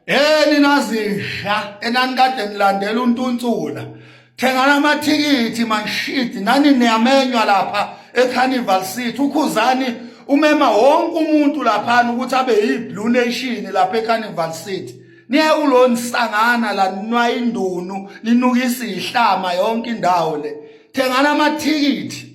Yeni nazidla enanikade nilandela untuntsula thengana amathikithi manshidi nani niyamenywa lapha ecarnival city ukhuzani umema wonke umuntu laphana ukuthi abe yi-blue nation lapha ecarnival city niye ulo nisangana la ninwa indunu ninukisa ihlama yonke indawo le thengana amathikithi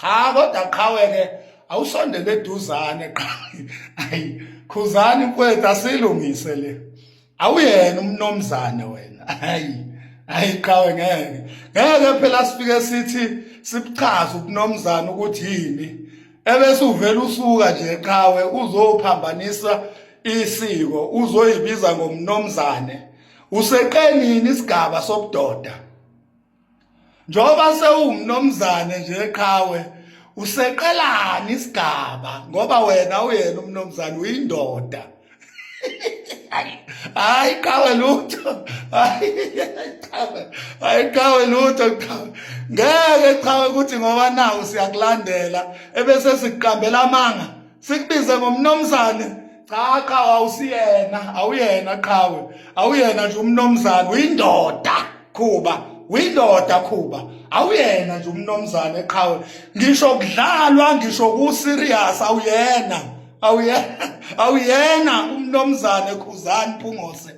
cha kodwa qhawe ke awusondele eduzane qhawe ayi khuzani mfowethu asilungise le awuyena umnomzane wena ayi ayi qhawe ngeke ngeke phela sifike sithi sibuchaza ubunomzane ukuthi yini ebese uvela usuka nje qhawe uzophambanisa isiko uzoyibiza ngomnomzane useqenini isigaba sobudoda njengoba sewumnomzane nje qhawe useqelani isigaba ngoba wena uyena umnomzane uyindoda hayi qhawe lutho hayi qhawe lutho qhawe ngeke qhawe ukuthi ngoba nawu siyakulandela ebese sikuqambela amanga sikubize ngomnomzane cha qha awusiyena awuyena qhawe awuyena nje umnomzane uyindoda khuba uyindoda khuba awuyena nje umnomzane qhawe ngisho kudlalwa ngisho ku serious awuyena awuyena awuyena umnomzane khuzani phungose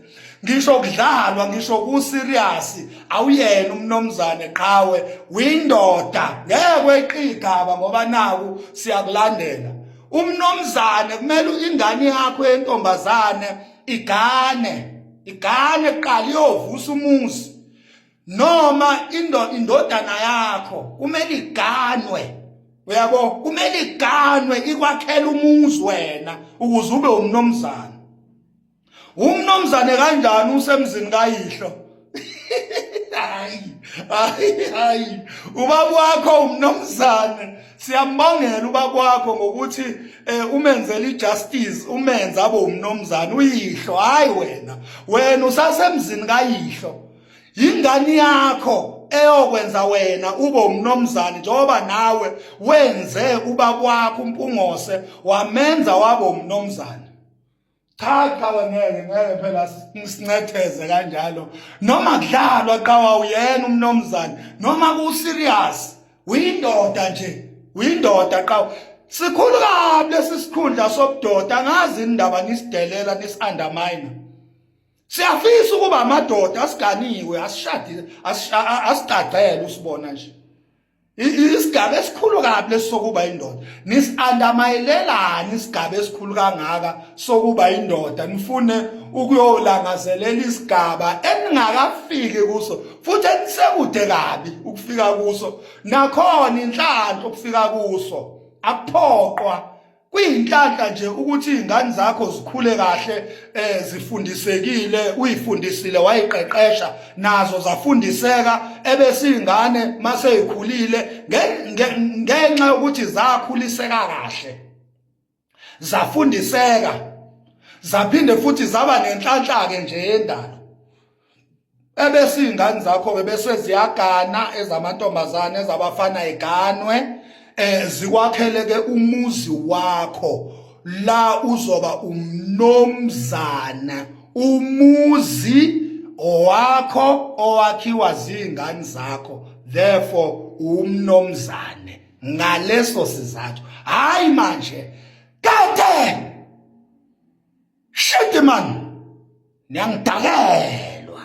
ngisho kudlalwa ngisho kuserious awuyena umnomzane qhawe windoda ngeke weqigaba ngoba naku siyakulandela umnomzane kumele ingane yakho yentombazane igane igane qala iyovusa umuzi noma indodana yakho kumele iganwe uyabo kumele iganwe ikwakhela umuzi wena ukuze ube umnomzane umnomzane kanjani usemzini kayihlo hayi hayi hayi ubaba wakho umnomzane siyambangela ubaba wakho ngokuthi eh, umenzela ijustice umenza abe umnomzane uyihlo hayi wena wena usasemzini kayihlo yingane yakho eyokwenza wena ube umnomzane njengoba nawe wenze uba kwakho umpungose wamenza wabo umnomzane cha qhawe ngeke ngeke phela sincetheze kanjalo noma kudlalwa qhawa uyena umnomzane noma ku serious uyindoda nje uyindoda qhawa sikhulu kabi lesi sikhundla sobudoda ngazi indaba nisidelela nisundermine siyafisa ukuba amadoda asiganiwe asishadile asigcagcele usibona nje isigaba esikhulu kabi lesokuba indoda nisiandamayelelani isigaba esikhulu kangaka sokuba indoda nifune ukuyolangazelela isigaba eningakafiki kuso futhi enisekude kabi ukufika kuso nakhona inhlanhla ukufika kuso akuphoqwa kuyinhlanhla nje ukuthi izingane zakho zikhule kahle eh zifundisekile uyifundisile wayiqeqesha nazo zafundiseka ebese izingane mase ikhulile ngenxa yokuthi zakhuliseka kahle zafundiseka zaphinde futhi zaba nenhlanhla ke nje yendalo ebese iy'ngane zakho-ke bese ziyagana ezamantombazane ezabafana iganwe um eh, zikwakheleke umuzi wakho la uzoba umnomzana umuzi owakho owakhiwa ziy'ngane zakho therefore umnomzane ngaleso sizathu hhayi manje kade Shit man. Niyangidakela.